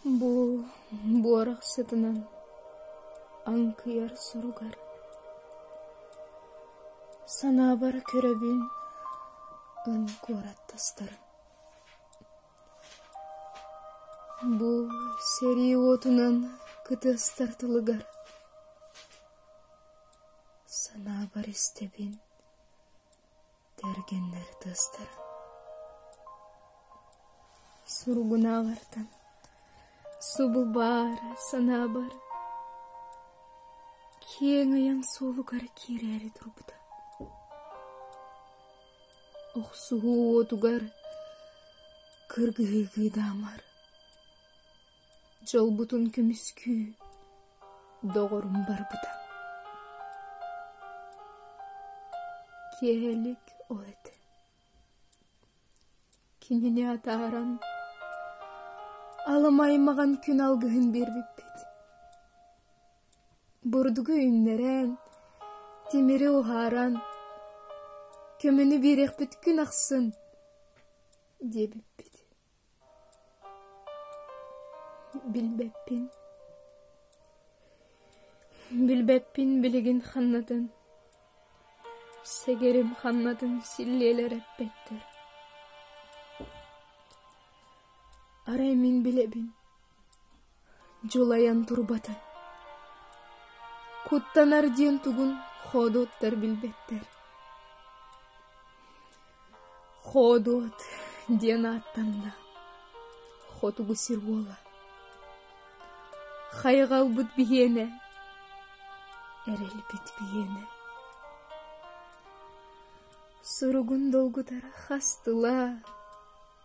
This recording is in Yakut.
Бу буорах сытынан аҥкыйар соругар санаабар көрөбүн ын куораттастарын. Бу сэрии уотунан кытыастар тылыгар санаабар истэбин Тэргэннэр тыастара Сургунааҕартан субу баара санаа бара Киэҥ айан суолугар киирээри турбута Охсуһуу уотугар кыргыһыгыы даамар Дьолбутун көмүскүү, доҕорум барбыта Киэһэлик ол этэ Кинини атааран Алым аймаҕын күн алгыһын биэрбиппит Бурдугу үүннэрэн, тимири уһааран Көмөнү биэриэхпит күн ахсын диэбиппит Билбэппин Билбэппин билигин ханнатын Сэгэрим ханнатын силлиэлэр эппэттэр Арай мин билэбин дьулайан турбатын куттанар диэн тугун хоодуоттар билбэттэр хоодуот диэн ааттанна хотугу сир уола хайҕалбыт биһиэнэ эрэлбит биһиэнэ суругун долгутара хас тыла